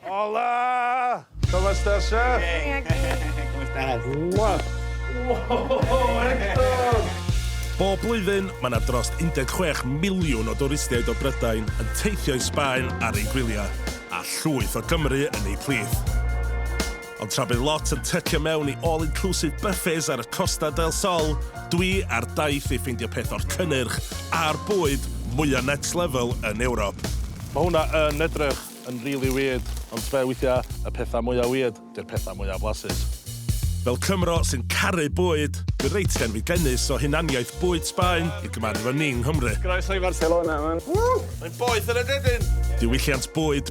Hola! ¿Cómo estás, chef? Bien, aquí. ¿Cómo estás? Wow! Wow, Hector! Bob blwyddyn, mae yna dros 16 miliwn o dwristiaid o Brydain yn teithio i Sbaen ar eu gwyliau, a llwyth o Gymru yn eu plith. Ond tra bydd lot yn tycio mewn i all-inclusive buffets ar y Costa del Sol, dwi ar daith i ffeindio peth o'r cynnyrch a'r bwyd mwya next level yn Ewrop. Mae hwnna yn edrych yn rili weird, ond tbe weithiau, y pethau mwya weird, di'r pethau mwya blasus. Fel Cymro sy'n caru bwyd, dwi reit genfigennus o hunaniaeth bwyd Sbaen i gymaru efo ni yng Nghymru. Croeso i Barcelona, man. Ww! Mae'n boeth yn y dedyn! Diwylliant bwyd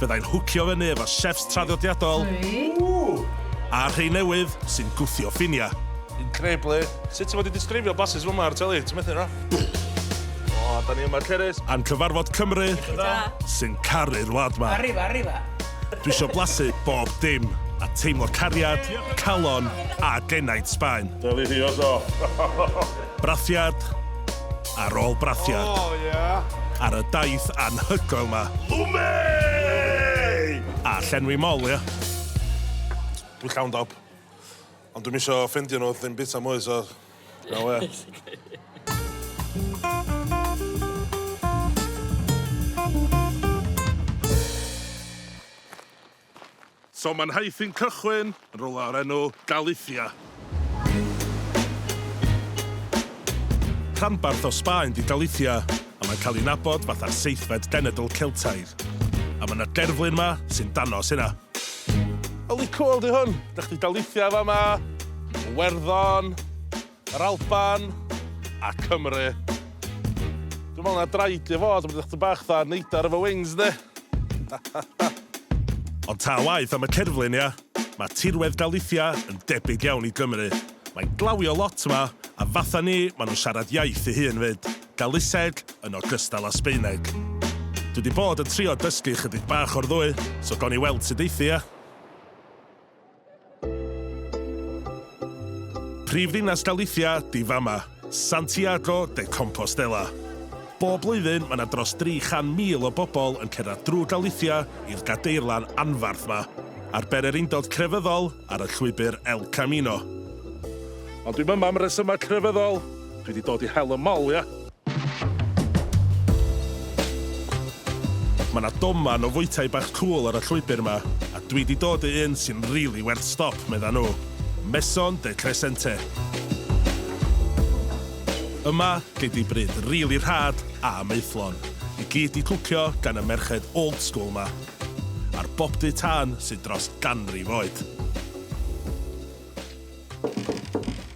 Fyddai'n hwcio fyny efo chefs traddodiadol a rhei newydd sy'n gwthio ffiniau. Incredibly. Sut ti fod i disgrifio blasus fel 'ma ar teli? Ti methu na? O, 'da ni yma Cerys. A'n cyfarfod Cymru sy'n caru'r wlad 'ma. Arriva, arriva. Dwi isio blasu bob dim a teimlo cariad, calon a genaint Sbaen. Delicioso. Brathiad. ar ôl brathiad oh, yeah. ar y daith anhygoel ma. Lwme! A llenwi mol, ia. Dwi'n llawn dob. Ond dwi'n misio ffendio nhw ddim bita mwy, so... Na we. So mae'n nhaith i'n cychwyn yn rywle o'r enw Galicia. Rhanbarth o Sbaen 'di Galicia, a mae'n cael ei nabod fatha'r seithfed genedl Celtaidd. A mae 'na gerflun 'ma sy'n danos hynna. Yli cwl 'di hwn! Da chi 'di Galicia fama, Iwerddon, Yr Alban a Cymru. Dwi'n meddwl na draed i fod, mae'n edrych bach dda neidar efo wings, de? Ond ta waeth am y cerflun, ia? Mae tirwedd Galicia yn debyg iawn i Gymru. Mae'n glawio lot yma, a fatha ni, maen nhw'n siarad iaith ei hun 'fyd, Galiseg yn ogystal â Sbaeneg. Dwi 'di bod yn trio dysgu chydig bach o'r ddwy, so gawn ni weld sut eithi, ia? Prif ddinas Galicia di fama, Santiago de Compostela. Bob blwyddyn mae yna dros 300,000 o bobl yn cerdded drwy Galicia i'r gadeirlan anfarth ma, ar ben yr undod crefyddol ar y llwybr El Camino. Ond dwi'm yma am resymau crefyddol, dwi di dod i hel y mol, ia? Ma na doman o fwytai bach cŵl ar y llwybr ma, a dwi di dod i un sy'n rili werth stop, medda nhw. Maison de Crescente. Yma, gei di bryd rili rhad a maethlon, i gyd di cwcio gan y merched old school ma, a'r bobdy tân sydd dros ganrif oed.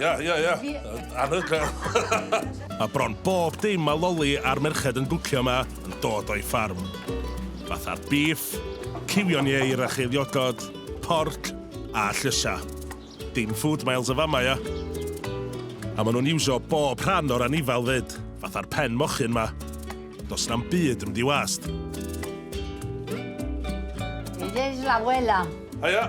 Ia, ia, ia. Anhygoel. Mae bron bob dim mae Loli a'r merched yn gwcio yma yn dod o'i ffarm. Fatha'r bîff, cywion ieir a cheiliogod, porc a llysiau. Dim food miles yn fama, ia. A maen nhw'n iwsio bob rhan o'r anifail 'fyd, fatha'r pen mochyn 'ma. Does na'm byd yn mynd i wast. This is la abuela. Haia.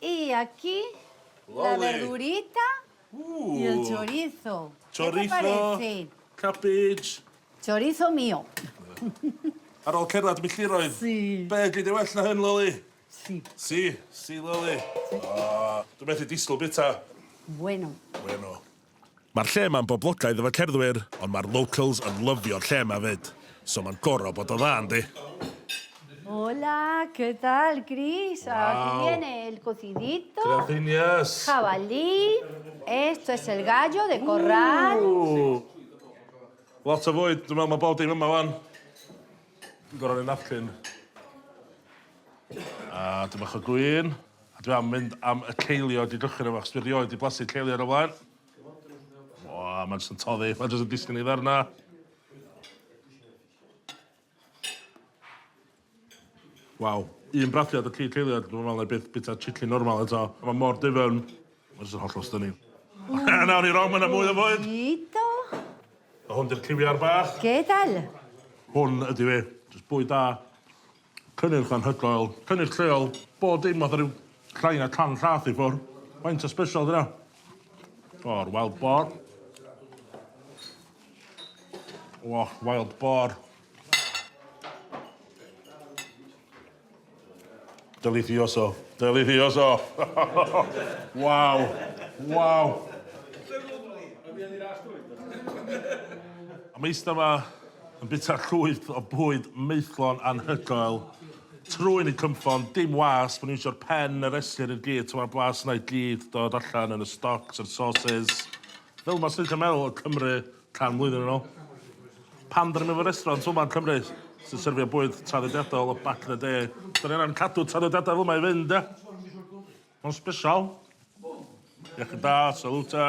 Y aquí la verdurita y el chorizo. Chorizo, cabbage. Chorizo mio. Ar ôl cerdded milltiroedd. Si. Be' gei di well na hyn, Loli? Si. Si, si Loli. O, dwi methu disgwyl bita. Bueno. Bueno. Ma'r lle ma'n boblogaidd efo cerddwyr ond ma'r locals yn lyfio'r lle ma fyd so ma'n goro bod o dda yndi? Hola, que tal Chris? Wow. Aquí viene el cocidito. Graciñas. Jabalí. Esto es el gallo de corral. Ooh. Lot o fwyd, dwi'n meddwl mae bob dim yma wan. Dwi'n gorau rhoi napkin. A dipyn bach o gwin. A dwi am mynd am y ceiliog i gychwyn efo, achos dwi rioed di blasu ceiliog o flaen. O, mae'n jyst yn toddi, mae'n jyst yn disgyn i ddarna. Waw, un brathiad o ci ceiliog, dwi'n meddwl na i byth bita chicken normal eto. Mae mor difyrn, mae'n jyst yn hollol stunning. A nawr i rong, mae yna mwy o fwyd! Hito! A hwn di'r ciwiar bach. Gedal! Hwn ydi fi, jyst bwyd da. Cynnyrch anhygoel, cynnyrch lleol, bob dim fatha ryw llai na can rhath i ffwr. Faint o sbesial di wnna? O'r wild boar. O, wild boar. Delicioso. Delicioso. Waw. Waw. Am eista 'ma Yn bwyta llwyth o bwyd maethlon anhygoel, trwyn yn cynffon, dim wasp, o'n i'n iwsio'r pen a restr i'r gyd, t'mo' blas yna i gyd dod allan yn y stocs a'r sauces. Fel 'ma swn i'n gallu meddwl o Cymru can mlwyddyn yn ôl. Pan 'dan ni'n mynd i restaurant fel 'ma yn Cymru sy'n serfio bwyd traddodiadol o back in the day, 'dan ni angan cadw traddodiadau fel 'ma i fynd ia? Ma'n sbesial. Iechyd da, salute.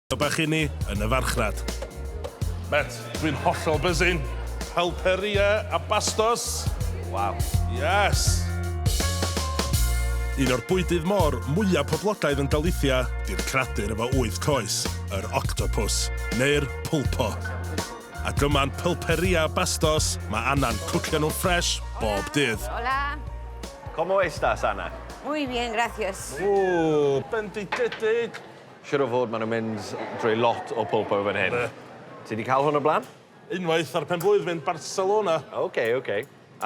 Helo bach i ni yn y farchnad. Met, dwi'n hollol buzzing. Pulperia a Bastos. Waw. Yes! Un o'r bwydydd môr mwya' poblogaidd yn Galicia 'di'r cradur efo wyth coes, yr octopws, neu'r pulpo. Ac yma'n Pulperia a Bastos, mae Anna'n cwcio nhw ffresh bob dydd. Hola! Como estas, Anna? Muy bien, gracias. Ww, bendigedig! Siŵr o fod, maen nhw'n mynd drwy lot o pulpo fan hyn. Be? Ti wedi cael hwn o'r blaen? Unwaith ar pen-blwydd mynd Barcelona. Ok, ok.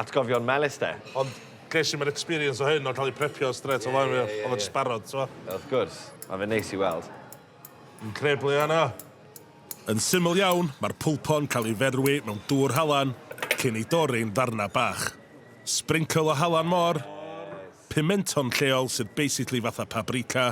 Atgofion melys de. Ond ges i'm yr experience o hyn o cael ei prepio strêt o flaen fi. Oedd o jyst barod, t'mo'? Wrth gwrs. Mae fe'n neis i weld. Yn creblu arno. Yn syml iawn, mae'r pulpo'n cael ei ferwi mewn dŵr halan cyn ei dorri'n ddarnau bach. Sbrincl o halan môr, pimenton lleol sydd basically fatha pabrika,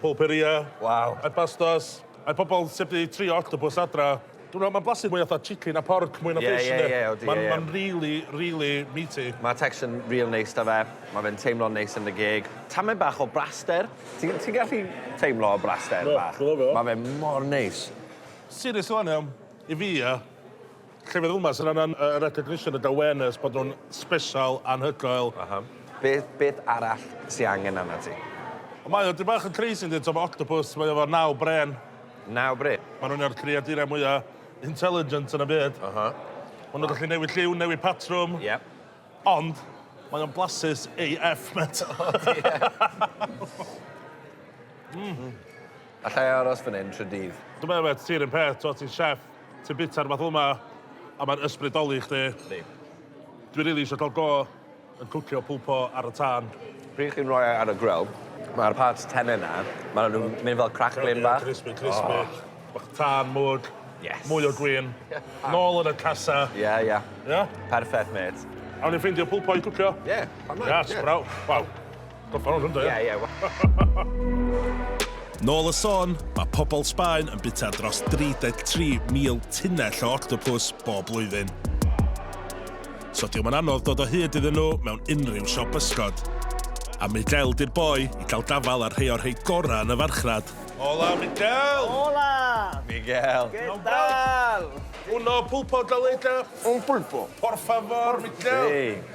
Pulperia. Waw. A pastas. A pobol sy wedi trio octopus adra. Dwi me'wl ma'n blasu mwy fatha chicken a porc mwy na fish yndi? Ie ie ie odi ie ie. Ma'n ma'n rili rili meaty. Ma'r texture yn ril neis 'da fe. Ma' fe'n teimlo'n neis yn dy geg. Tamaid bach o braster. Ti'n ti'n gallu teimlo y braster bach? Do, do, do. Ma' fe mor neis. Serious rŵan iawn, i fi ia, Llefydd fel 'ma sy'n angan y recognition, y dawenus bod nhw'n sbesial, anhygoel. Aha. Beth, beth arall sy angen arnat ti? Ond mae o dipyn bach yn crazy yndi, t'o' ma' octopus, mae o efo naw brên. Naw brên? Ma' nhw'n un o'r creaduriau mwya intelligent yn y byd. Aha. Ma' nhw'n gallu newid lliw, newid patrwm. Ie. Ond, mae o'n blasus AF, mêt. O diar. Mm. Alla i aros fan 'yn trw dydd? Dw i'n meddwl mêt, ti 'r un peth, t'o' ti'n chef. Ti'n bwyta'r math yma a mae'n ysbrydoli chdi. Yndi. Dwi rili isio cael go yn cwcio pulpo ar y tân. Pryd chi'n rhoi e ar y grill, mae'r parts tenne 'na, maen nhw'n mynd fel cracklin bach. Crispy, crispy. Oh. Bach tân, mwg. Yes. Mwy o gwin. Nôl yn y casa. Ie, ie. Ie? Perffaith, mêt. Awn ni ffeindio pulpo i cwcio? Ie, pan mae. Yes, yeah. bravo. Waw. Got pound hwn da ia? Ie ie. Nôl y sôn, mae pobl Sbaen yn bwyta dros 33,000 tunnell o octopws bob blwyddyn. So diwm yn anodd dod o hyd iddyn nhw mewn unrhyw siop bysgod. A Miguel di'r boi i cael gafael ar rhei o'r rhei gorau yn y farchnad. Hola Miguel! Hola! Miguel! ¿Qué tal? Uno pulpo galeta. Un pulpo. Por favor, Miguel. Sí.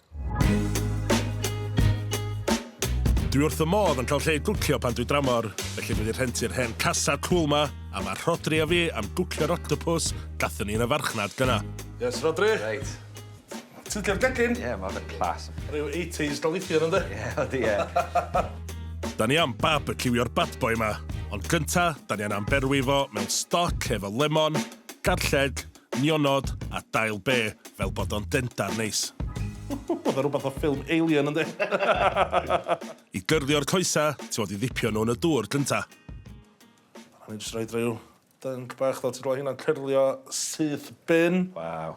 Dwi wrth y modd yn cael lle i gwcio pan dwi dramor, felly dwi wedi rhentu'r hen casa cwl ma, a mae Rhodri a fi am gwcio'r octopus gathon ni yn y farchnad gyna. Yes, Rhodri? Reit. Ti'n licio'r gegin? Ie, mae fe'n class. Rhyw 80s dalithion ynddi? Ie, ydi, ie. Da ni am barbeciwio'r bad boy ma, ond gynta, da ni anna'n berwi fo mewn stoc efo lemon, garlleg, nionod a dail be fel bod o'n dendar neis. Oedd o rwbath o ffilm Alien yndi? I gyrdio'r coesa, ti fod i ddipio nhw yn y dŵr gynta. A ni jyst roid rhyw dync bach fel ti'n gweld hynna'n cyrlio syth bin. Waw.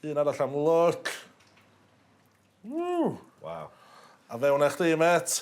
Un arall am look. Ww. Waw. A fewn â chdi, met.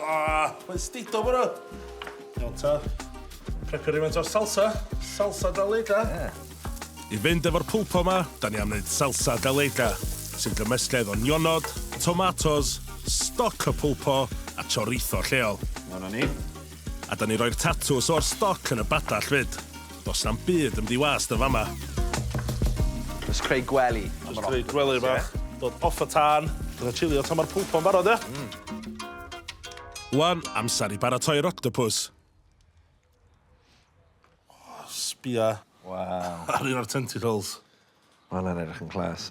Ah, mae'n stido fo Iawn ta. Prepio rhywfaint o'r salsa. Salsa Daleda. Yeah. I fynd efo'r pulpo ma, da ni am wneud salsa daleda, sy'n gymysgedd o nionod, tomatos, stoc o pulpo a chorizo lleol. Dyna ni. A da ni roi'r tatws o'r stoc yn y badall fyd. Does na'm byd yn mynd i wast yn fama. Jyst creu gwely. Jyst creu gwely bach. Dod off y tân. Dod a chilio tan ma'r pwlpo'n barod, ia? Mm. Wan, amser i baratoi'r octopus. Oh, sbia. Waw. Ar un o'r tentacles. Mae hwnna'n edrych yn class.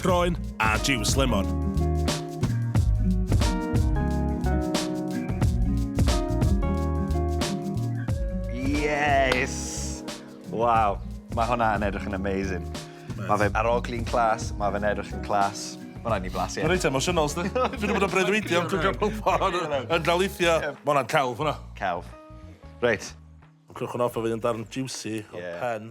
Croen a jiws lemon. Waw, mae hwnna yn edrych yn amazing. Mae fe ar oglu'n clas, mae fe'n edrych yn clas. Mae hwnna'n ni blasu. Mae'n reit emosiynol, sdi. Dwi'n ddim yn breuddwydio, dwi'n cael pobl yn drawlithio. Mae hwnna'n celf hwnna. Celf. Reit. Mae'n crwch yn off o fi yn darn juicy o pen.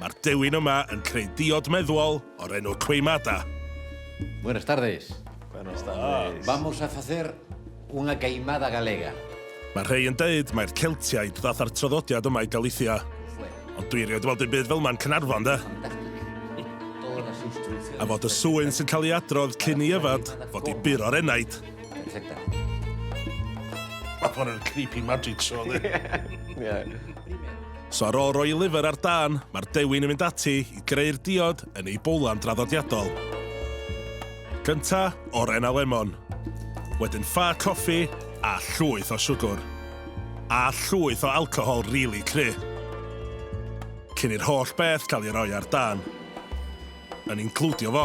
Mae'r dewin yma yn creu diod meddwol o'r enw Queimada. Buenas tardes. Buenas tardes. Vamos a facer una queimada galega. Mae rhei yn deud mai'r Celtiaid ddath â'r traddodiad yma i Galicia. Ond dwi erioed weld dim byd fel ma'n Caernarfon, de? A fod y sŵyn sy'n cael ei adrodd cyn i yfed fod i bur o'r enaid. Mae hwn yn creepy magic show, dde. Ie. So ar ôl roi liver ar dân, mae'r dewin yn mynd ati i greu'r diod yn ei bowlan draddodiadol. Gynta, oren a lemon. Wedyn ffa coffi a llwyth o siwgwr. A llwyth o alcohol rili really cry. Cyn i'r holl beth cael ei roi ar dân. Yn includio fo.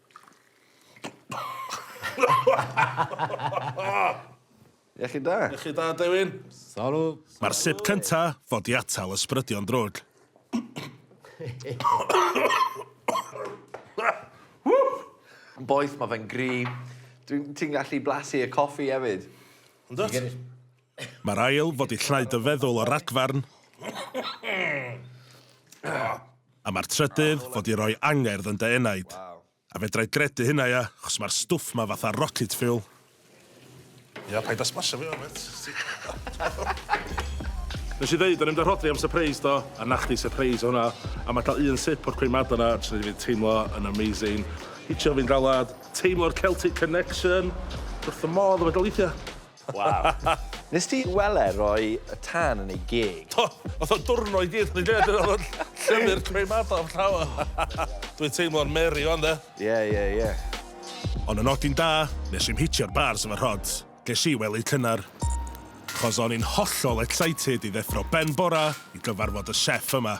Iechyd da. Iechyd da, Dewin. Sori. Mae'r sip cynta fod i atal ysbrydion drwg. Yn boeth, mae fe'n gry. Dwi'n... Ti'n gallu blasu y coffi hefyd. Yndwt? Mae'r ail fod i llnau dy feddwl o ragfarn, a mae'r trydydd fod i roi angerdd yn dy enaid. A fedrai gredu hynna ia, chos mae'r stwff ma fatha rocket fuel. Ia, paid a smasho fi yma mêt. Nes i ddeud o'n i'm da rhodri am sypreis do? A na chdi sypreis o hwnna. A ma ca'l un sip o'r coemada na jys neud fi teimlo yn amazing. Hitio fi'n galad. Teimlo'r Celtic connection. Dwi wrth fy modd efo daleithia. Waw. Nest ti wel' e roi y tân yn ei geg? Do! Nath o dwrno i gyd yn y geg dyna o'dd y llyfyr creu madog yn llaw e. Dwi'n teimlo'n Mary ŵan 'de. Ie ie ie. Ond y nodyn da, nes i'm hitio'r bars efo Rhod, ges i wely cynnar. Chos o'n i'n hollol excited i ddeffro ben bora i gyfarfod y chef yma.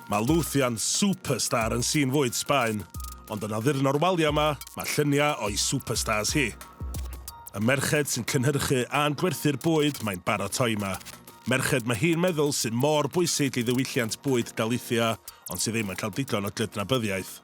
Mae Luthian superstar yn sîn fwyd Sbaen, ond yn addurn o'r waliau 'ma, mae lluniau o'i superstars hi. Y merched sy'n cynhyrchu a'n gwerthu'r bwyd mae'n baratoi 'ma. Merched mae hi'n meddwl sydd mor bwysig i ddiwylliant bwyd Galicia ond sydd ddim yn cael digon o gydnabyddiaeth.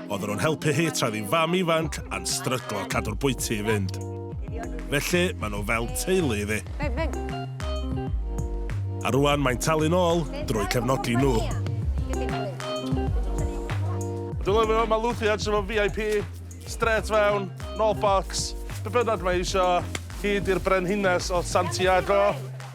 oedden nhw'n helpu hi tra oedd hi'n fam ifanc a'n stryglo cadw'r bwyty i fynd. Felly, maen nhw fel teulu iddi. A rwan mae'n talu'n ôl drwy cefnogi nhw. Dwi'n lyfio fo, mae Lucy edrych efo VIP, straight fewn, no box, be bynnag mae eisiau, hyd i'r brenhines o Santiago.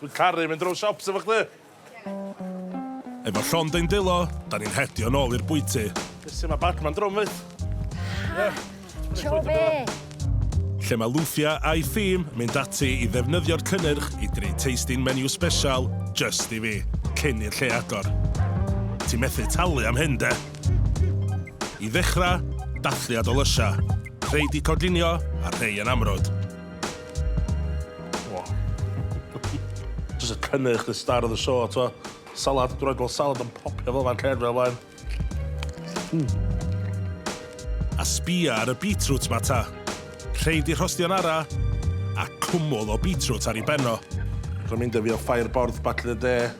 Dwi'n caru mynd rownd siops efo chdi! Efo llond ein dwylo, da ni'n hedio nôl i'r bwyty. Be sy 'ma Batman drwm wyt? Ha! Tro be? Lle mae Lufia a'i thîm mynd ati i ddefnyddio'r cynnyrch i drin tasting menu sbesial jyst i fi, cyn i'r lle agor. Ti methu talu am hyn 'de? I ddechrau, dathliad o lysiau, rhei 'di coginio a rhei yn amrwd. Just y cynnyrch, the star of the show, to. Salad, dwi'n rhaid salad yn popio fel fan cer fel fan. Hmm. A sbia ar y beetroot ma ta. Rheid i rhostio'n ara, a cwmwl o beetroot ar ei benno. Rwy'n mynd â fi o ffair borth batle de.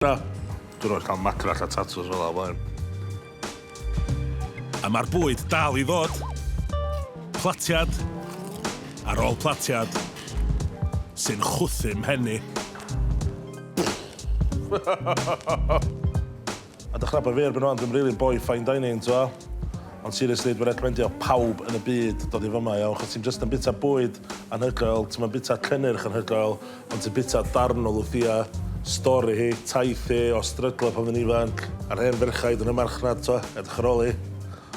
Na, dwi'n rhoi cael macrach a tatws fel afael. A mae'r bwyd dal i ddod. Platiad ar ôl platiad sy'n chwthu mhenni. A dych ch'nabod fi erbyn ŵan dwi'm rili'n boi fine dining t'mo'? Ond seriously dwi recmendio pawb yn y byd dod i fyma iawn achos ti'm jyst yn bita bwyd anhygoel ti'm yn bita cynnyrch anhygoel ond ti'n bita darn o Lwthia, stori hi, taith hi, o stryglo pan o'dd yn ifanc, a'r hen ferchaid yn y marchnad t'mo'? Edrych ar ôl hi.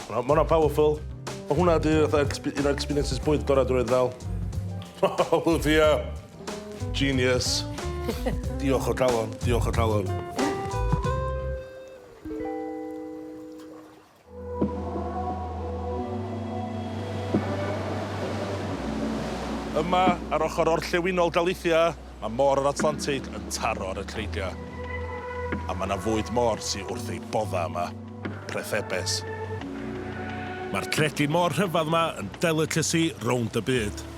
Ma' 'na ma' 'na powerful. Ma' hwnna 'di fatha exp- un o experiences bwyd gora' dwi 'rioed 'di ga'l. Lwthia! Genius. Diolch o galon, diolch o galon. Yma, ar ochr orllewinol Galicia, mae môr yr Atlantig yn taro ar y creigiau. A mae yna fwyd môr sydd wrth ei bodda yma, prethebes. Mae'r cregyn môr rhyfedd yma yn delicacy rownd y byd.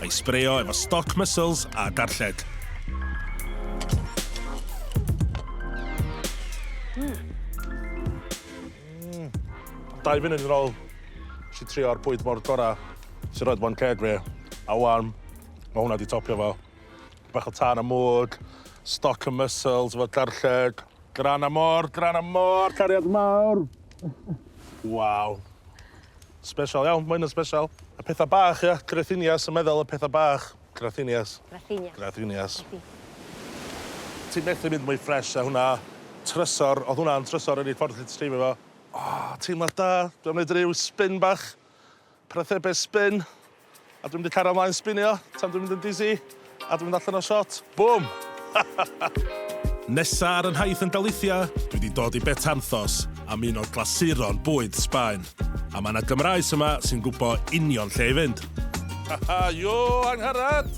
a'i sbreio efo stoc mussels a darlled. Mm. Mm. Dau funud yn ôl, si trio'r bwyd mor gorau sy'n rhoi bo'n ceg fi. A wan, mae hwnna wedi topio fo. Bach o tan a mwg, stoc y mussels efo darlled. Gran a môr, gran a môr, cariad mawr. Waw. Sbesial iawn, ma' hyn yn sbesial. Y petha bach ia? Grathinias yn meddal y petha bach. Grathinias. Grathinias. Grathinias. Ti methu mynd mwy ffres a hwnna. Trysor, odd hwnna'n trysor yr unig ffordd allet ti dreifio fo. O, teimlad da. Dwi am neud ryw spin bach. Para thebe spin. A dwi'n mynd i cario mlaen sbinio tan dwi'n mynd yn dizzy a dwi'n mynd allan o shot. Bwm! Nesa ar y nhaith yn Galicia, dwi 'di dod i Betanzos, am un o glasuron bwyd Sbaen. A ma' 'na Gymraes yma sy'n gwbo union lle i fynd. Haha, yo, Angharad!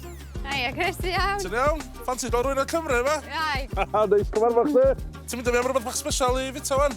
Haia, Chris, ti iawn? Ti'n iawn? Ffansi dod rwy'n y Cymru yma? Iawn. Haha, neis cyfarfod chdi! Ti'n mynd â fi am rwbeth bach sbesial i fita wan?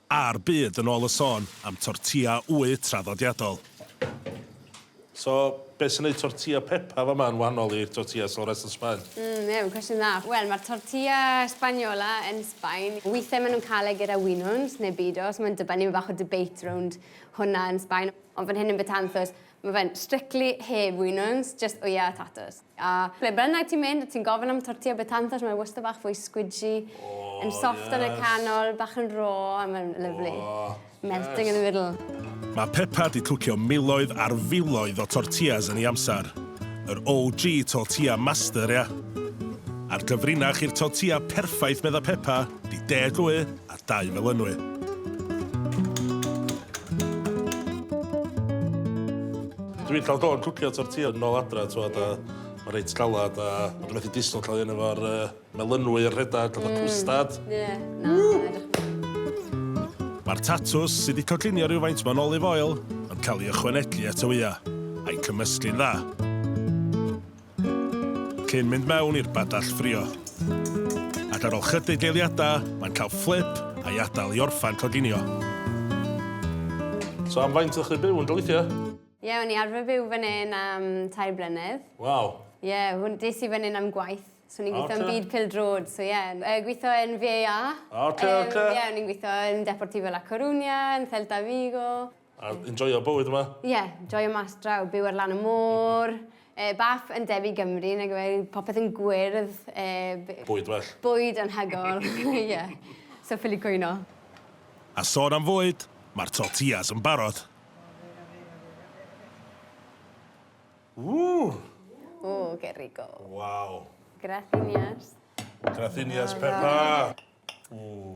A'r byd yn ôl y sôn am tortilla wy traddodiadol. So, beth sy'n neud tortilla Pepa fama yn wahanol i'r tortillas o'r rest o Sbaen? Mm, ie, mae'n cwestiwn dda. Wel, mae'r tortilla Spaniola yn Sbaen, weithiau maen nhw'n cael e gyda winwns neu bidor, so mae'n dibynnu, mae bach o debate rownd hwnna yn Sbaen. Ond fan hyn yn Betanzos, Mae fe'n strictly heb winwns, just wyau a tatws. A ble bynnag ti'n mynd, ti'n gofyn am tortilla betanzas, mae wastad bach fwy squidgy, yn soft yn y canol, bach yn raw, a mae'n lyfli. Melting in the middle. Mae Pepa 'di cwcio miloedd ar filoedd o tortillas yn ei amser. Yr OG tortilla master, ia? A'r cyfrinach i'r tortilla perffaith, medda Pepa, 'di deg wy, Dau fel enwi. Dw i'n cael go yn cwcio tortilla yn ôl adra t'mod a ma' reit galad a ma' dw methu disgwyl cael un efo'r yy melynwy a rhedag fatha cwstad. Hmm ie na fedrwch. Ma'r tatws, sy 'di coginio rywfaint mewn olive oil, yn cael ei ychwanegu at y wya, a'i cymysgu'n dda. Cyn mynd mewn i'r badell ffrio. Ac ar ol chydig eiliadau, mae'n cael fflip a'i adael i orffan coginio. So am faint o'ch chi byw yn Galicia? Ie, o'n i arfer byw fan hyn am tair blynedd. Waw. Ie, hwn, des i fan hyn am gwaith. So o'n i'n gweithio yn byd pildrod, so ie. Yy gweithio yn VAA. Ocê, ocê. Yym ie, o'n i'n gweithio yn Deportivo La Coruña, yn Celta Vigo. A enjoio bywyd yma? Ie, yeah, joio mas draw, byw ar lan y môr, e, bach yn debyg Gymru, nag yw e, popeth yn gwyrdd. E, bwyd well. Bwyd yn hygol, ie. yeah. So ffili cwyno. A sôn am fwyd, mae'r tortillas yn barod. Ww! Ww, que rico. Wow. Grathinias. Grathinias, Pepa. Ww.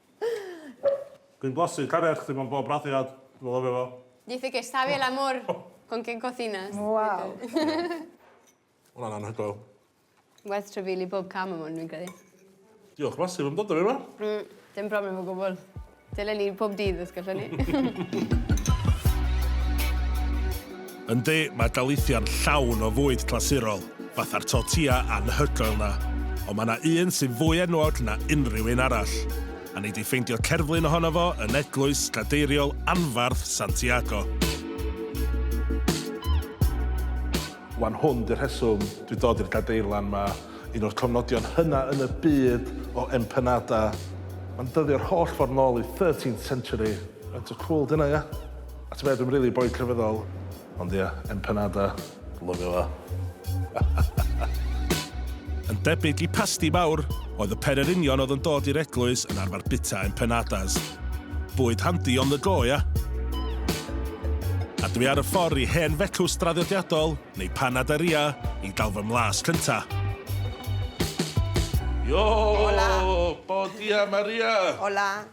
Dwi'n blasu carreg chdi mewn bob brathiad, dwi lyfio fo. Dice que sabe el amor con quien cocinas. Waw. Ma' wnna'n anhygoel. Werth trafeili bob cam am 'wn fi'n credu. Diolch massive am dod â fi yma. Mm, dim problem o gwbwl. Dylen ni pob dydd os gallwn ni. Yndi, mae dalithiau'n llawn o fwyd clasurol, fatha'r tortilla anhygoel 'na. Ond mae 'na un sy'n fwy enwog na unrhyw un arall, a nei di ffeindio cerflun ohono fo yn eglwys gadeiriol anfarth Santiago. Wan hwn 'di'r rheswm dwi'n dod i'r gadeirlan 'ma, un o'r cofnodion hynna yn y byd o empanada. Mae'n dyddio'r holl ffordd nôl i thirteenth century. Faint o cwl dyna ia? A t'be dwi'm rili boi crefyddol ond ia, empanada, lyfio fo. Yn debyg i pasti mawr, oedd y pererinion oedd yn dod i'r eglwys yn arfer bita empanadas. Bwyd handi on the go ia? A dwi ar y ffor i hen fecws draddodiadol, neu panaderia, i gael fy mlas cynta. Yo! Hola! Bom dia Maria! Hola!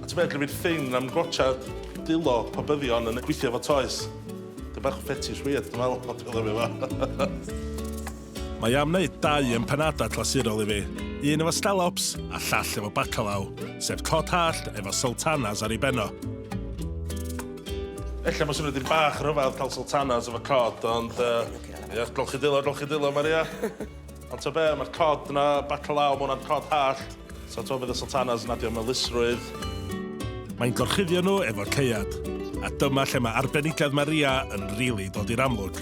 A ti'n meddwl fi'n ffyn am gwatsiad dulo pobyddion yn gweithio efo toes? Dwi bach o fetish weird dwi'n meddwl o dwi'n lyfio fo. Mae am wneud dau empanada clasurol i fi, un efo scallops a llall efo bacalao, sef cod hallt efo sultanas ar ei ben o. Ella mae'n swnio dipyn bach yn rhyfedd cael sultanas efo cod ond yy ia golchi dulo golchi dulo Maria. Ond ta be, mae'r cod yna, bacalaw, mae hwnna'n cod hallt, so ta fydd y sultanas yn adio melusrwydd. Mae'n gorchuddio nhw efo caead, a dyma lle mae arbenigedd Maria yn rili dod i'r amlwg.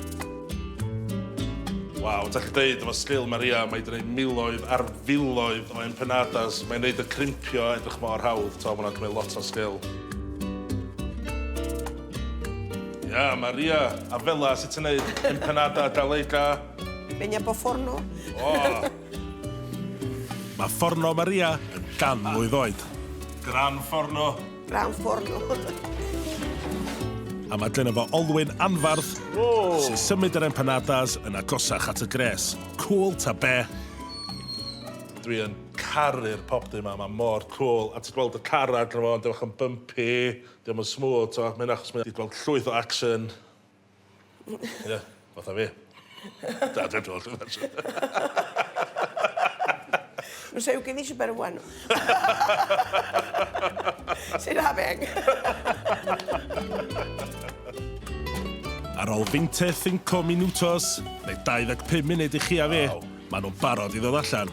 Waw, dach chi'n deud efo sgil Maria, mae 'di gwneud miloedd ar filoedd o empanadas, mae'n neud y crimpio edrych mor hawdd, ta, mae hwnna'n cymryd lot o sgil. Ia, Maria, a fela sut ti'n neud empanada gallega. Benya bo forno. Oh. Mae fforno Maria yn gan mlwydd oed. Gran fforno. Gran fforno. A mae dyn efo olwyn anfarth oh. sy'n symud yr empanadas yn agosach at y gres. Cool ta be? Dwi yn caru'r popdy yma, mae mor cool. A ti'n gweld y car ar gyfer fo, yn bach yn bumpy, ddim yn smooth, ti'n gweld, mae'n achos mae'n gweld llwyth o action. Ie, fatha fi. Da, dwi'n dod yn fes. Mae'n sef gen i si ber wan. Sy'n hafeg. Ar ôl 25 minutos, neu 25 munud i chi a fi, maen nhw'n barod i ddod allan.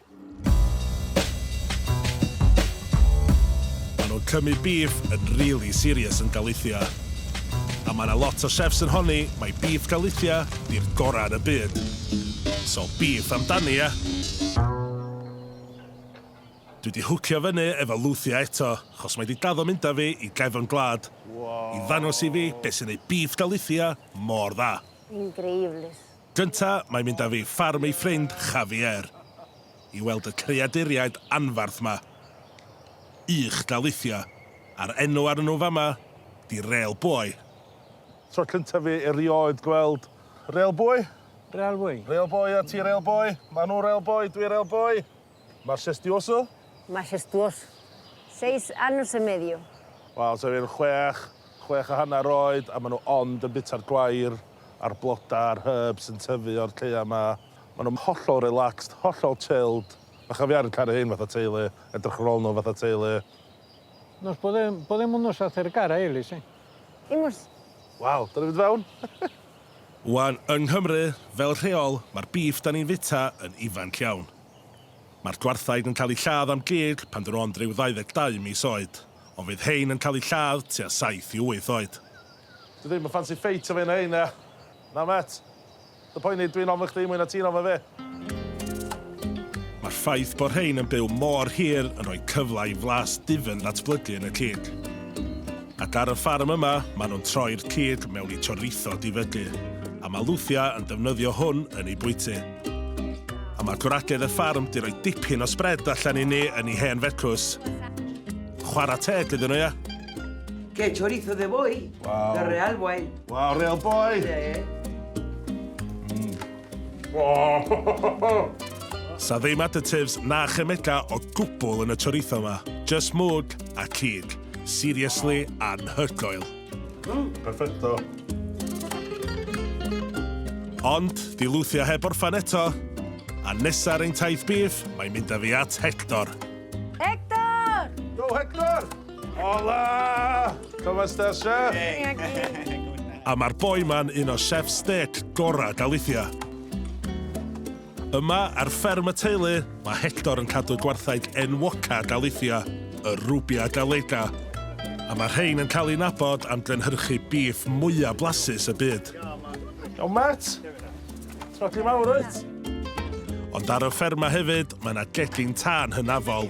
Ma nhw'n cymryd beef yn rili serious yn Galicia. A ma 'na lot o chefs yn honni mai beef Galicia 'di'r gora' yn y byd. So beef amdani ia? Dwi 'di hwcio fyny efo Lucia eto, chos mae 'di daddo mynd â fi i Gefn Gwlad, i ddangos i fi be' sy'n neud beef Galicia mor dda. Increíbles. Gynta, mae'n mynd â fi i ffarm ei ffrind Javier, i weld y creaduriaid anfarth 'ma. Ych daleithio, a'r enw arnyn nhw fama 'di Rêl Boi. Tro cynta fi erioed gweld Rêl Boi. Rêl Boi? Rêl Boi, a ti Rêl Boi? Maen nhw Rêl Boi, dwi Rêl Boi. Majestuoso? Majestuoso. Seis años y medio. Wel, tua fi'n chwech, chwech a hanner oed, a maen nhw ond yn bita'r gwair a'r blodau a'r herbs sy'n tyfu o'r caeau 'ma. Maen nhw'n hollol relaxed, hollol chilled. A chafiar yn caru rhein fatha teulu, edrych ar ôl nhw fatha teulu. Nos bore, bore mwyn nos at ergara eili si. Ingwrs. Waw, da ni'n mynd fewn. Wan, yng Nghymru, fel rheol, mae'r bîff da ni'n fita yn ifanc iawn. Mae'r dwarthaig yn cael ei lladd am gig pan dyn ond ryw 22 mis oed, ond fydd hein yn cael ei lladd tua 7 i 8 oed. Dwi ddim yn ffansi ffeit o fi na hein, na. Na mêt. Dy poeni, dwi'n ofn chdi mwy na ti'n ofn fi. Mae'r ffaith bod rhein yn byw mor hir yn rhoi cyfle i flas difyn ddatblygu yn y cig. Ac ar y ffarm yma, maen nhw'n troi'r cig mewn i chorizo difygu, a mae Lucia yn defnyddio hwn yn ei bwyty. A mae gwragedd y ffarm 'di rhoi dipyn o sbred allan i ni yn ei hen fecws. Chwarae teg iddyn nhw, ia? Qué chorizo de boy, the real way. Wow, real boy! Yeah, yeah. Sa ddim additives na chemega o gwbl yn y chorizo yma. Just mwg a cig. Seriously anhygoel. Mm, perfecto. Ond, di lwthio heb orffan eto. A nesa ar ein taith bif, mae'n mynd â fi at Hector. Hector! Go Hector! Hola! Com estàs, chef? Bien, aquí. A mae'r boi ma'n un o chefs stêc gorau Galicia. Yma, ar fferm y teulu, mae Hector yn cadw gwarthaig enwoca Galicia, y Rubia Gallega, a mae rhain yn cael ei nabod am gynhyrchu bîff mwyaf blasus y byd. O, Matt! Trogi mawr, wyt? Ond ar y fferma hefyd, mae yna gegin tân hynafol.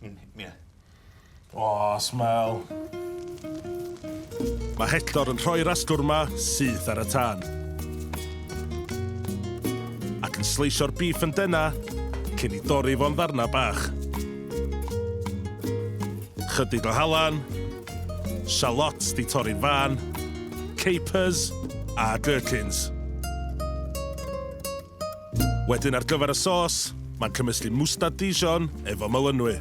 Miwn hi- ie. O, smell. Mae Hector yn rhoi'r asgwrn 'ma syth ar y tân. Ac yn sleisio'r beef yn dena cyn i dorri fo'n ddarna bach. Chydig o halan, shallots di torri'n fân, capers a gherkins. Wedyn ar gyfer y sos, mae'n cymysgu mwstad Dijon efo melynwy,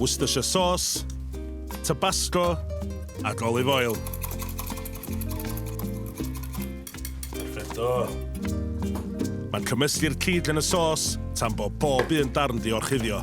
Worcestershire sauce, Tabasco ac olive oil. Perfecto! Mae'n cymysgu'r cig yn y sos tan bod pob un darn 'di orchuddio.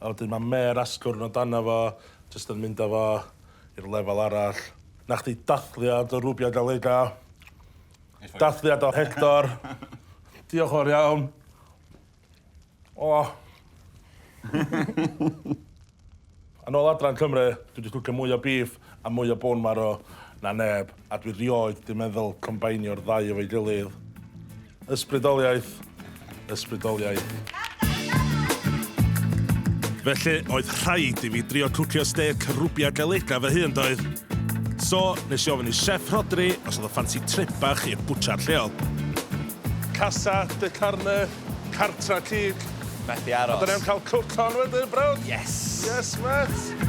A wedyn ma' mêr asgwrn o dano fo, jyst yn mynd â fo i'r lefel arall. 'Na chdi dathliad o Rubia Gallega. Dathliad o Hector. Diolch fawr iawn. O! Yn ôl adran Cymru, dwi 'di llwcio mwy o beef a mwy o bone marrow na neb. A dwi rioed di meddwl combainio'r ddau efo'i gilydd. Ysbrydoliaeth. Ysbrydoliaeth. Felly, oedd rhaid i fi drio cwcio stêc rwbia galega fy hun, doedd? So, nes i ofyn i Chef Rhodri os oedd o ffansi trip bach i'r bwtsiar lleol. Casa de Carne, Cartra Cig. Methu aros. A da ni am cael cook on wedyn, brawd? Yes! Yes, mêt!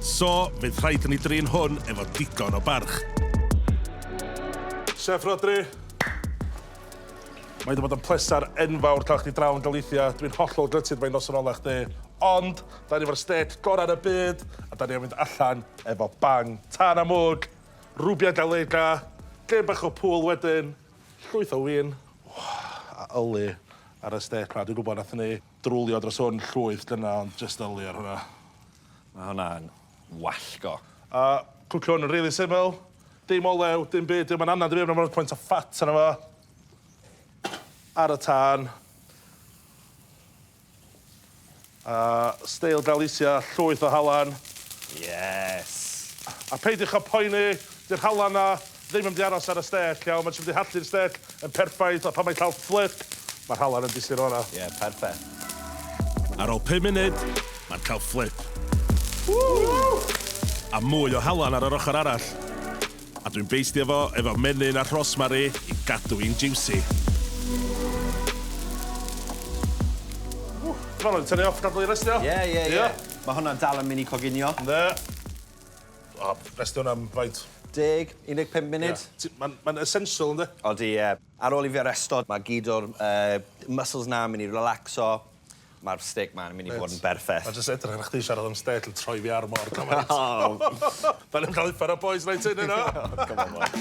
So, fydd rhaid i ni drin hwn efo digon o barch. Chef Rhodri. Mae 'di bod yn pleser enfawr cael chdi draw yn Galicia. Dwi'n hollol gutted mai noson ola chdi. Ond, da ni efo'r stêc gorau yn y byd, a da ni am fynd allan efo bang. Tân a mwg, rubia gallega, gêm bach o pŵl wedyn, llwyth o win, a yli ar y stêc 'ma. Dwi'n gwybod, nathon ni Drwlio dros hwn llwyth dyna ond jyst yli ar hwnna. Ma' hwnna'n wallgo. A cwcio hwn yn rili syml. Dim olew, dim byd, dim ond anad i fi efo pwynt o ffat arno fo. Ar y tân. A steil Galicia, llwyth o halan. Yes! A peidiwch â poeni, 'di'r halan 'na Ddim yn mynd i aros ar y stêc, iawn, mae'n mynd i harddu'r stêc yn perffaith, a phan mae'n cael fflip, mae'r halen yn disgyn o'r yna. Ie, perffaith. Ar ôl pum munud, mae'n cael fflip. A mwy o halen ar yr ochr arall. A dwi'n beistio fo efo menyn a rhosmari i gadw hi'n jiwsi. Ti'n barod i tynnu off, gadael hi restio? Ie, ie, ie. Mae hwnna'n dal yn mynd i coginio. Yndi. O, cwestiwn am faint? Deg, 15 munud. Ie. Ma'n ma'n essential ynde? Odi ie. Ar ôl i fi aresto ma' gyd o'r yy muscles 'na yn myn' i relacso ma'r stêc 'ma'n myn' i bod yn berffeth. Mate, a jyst edrych arna chdi siarad am stêc yn troi fi ar mor galed. Fel yn ca'l uffar o boys night in yno! O come on bois.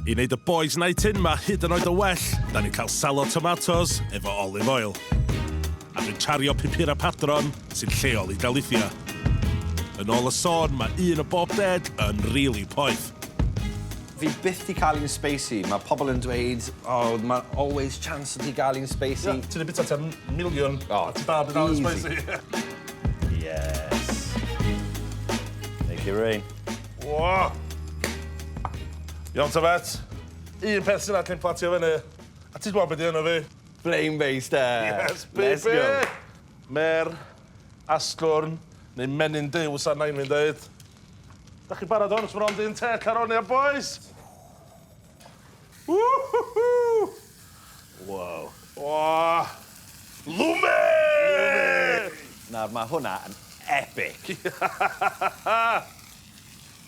I neud y boys night in 'ma hyd yn oed yn well, 'dan ni'n ca'l salad tomatos efo olive oil. A dwi'n cario pupura padron sy'n lleol i Galicia. Yn ôl y sôn, mae un o bob deg yn rili poeth. Fi byth di cael un spacey. Mae pobl yn dweud, o, mae always chance o ti gael un spacey. Ie, ti di bita tua miliwn a ti dal heb di cael un spacey. Yes. Make it rain. Woah! Iawn ta, Vet. Un peth sy'n acen platio fyny. A ti gwbod be di enw fi? Flame Based e! Yes baby! Let's go! Ma'r asgwrn, neu menyn Duw sa nain fi'n deud. Dach chi barod ŵan os ma' ond un têc ar ôl ia bois? Whoo-hoo-hoo! Waw. O! Lwme! Lwme! Nawr ma' hwnna yn epic.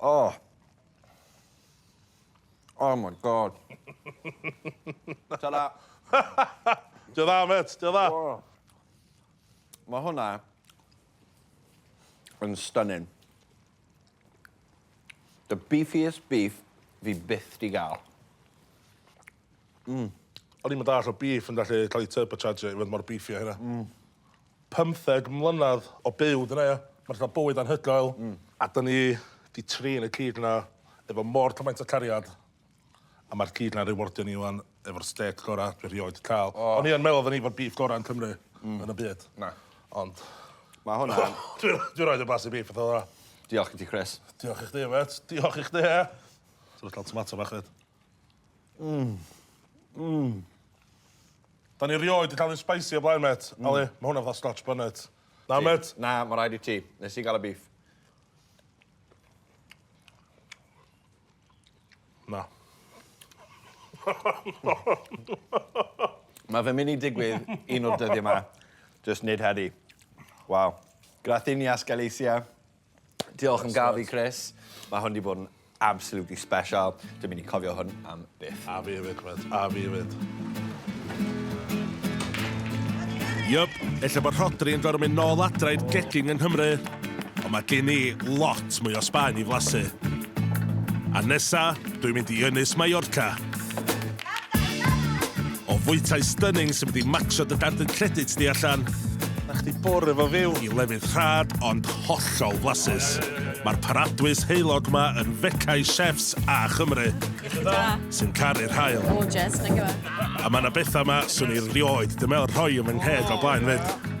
Oh. Oh my god. Ta-da. Dio dda, met, dio dda. Oh. Mae hwnna yn stunning. The beefiest beef fi byth di gael. Mm. O'n i'n mynd all o beef yn gallu cael ei turbocharge i fod mor beefy a hynna. Mm. Pymtheg mlynedd o byw 'da ni. Ma'n lle bywyd anhygoel. Hmm. A 'da ni 'di trin y cig 'na efo mor cymaint o cariad a ma'r cig 'na'n rewardio ni ŵan efo'r stêc gora' dwi rioed 'di ca'l. O! O'n i yn meddwl odden ni efo'r beef gora' yn Cymru. Hmm. Yn y byd. Na. Ond... Ma' hwn yn... Dwi dwi rioed 'di blasu beef fatha fela. Diolch gen ti Chris. Diolch i chdi mêt. Diolch i chdi. Ti licio tomato bach 'fyd? Mmm. Mmm. Da ni rioed 'di ca'l un spicy o blaen mêt. Hmm. Yli, ma' hwnna fatha Scotch bonnet. Na mêt? Na, ma' raid i ti. Nes i ga'l y beef. Na. Ma' fe'n myn' i digwydd un o'r dyddie 'ma. Jyst nid heddi. Waw. Grathinias Galicia. Diolch yn gaf i Chris. Mae hwn wedi bod yn absolutely special. Dwi'n mynd i cofio hwn am byth. A fi hefyd, Chris. A fi hefyd. Yup, ella bod Rhodri yn gorfod mynd nôl adra i'r gegin yng Nghymru. Ond mae gen i lot mwy o Sbaen i flasu. A nesa, dwi'n mynd i Ynys Mallorca. O fwytai stunning sy'n mynd i macsio dy dardyn credit di allan. Na chdi bore fo fyw. I lefydd rhad ond hollol flasus. Mae'r paradwys heulog ma yn fecau chefs a Chymru. Iechyd da. Sy'n caru'r haul. Gorgeous, thank you. A mae na bethau ma, swn i rioed di meddwl rhoi yn fy ngheg o blaen fyd.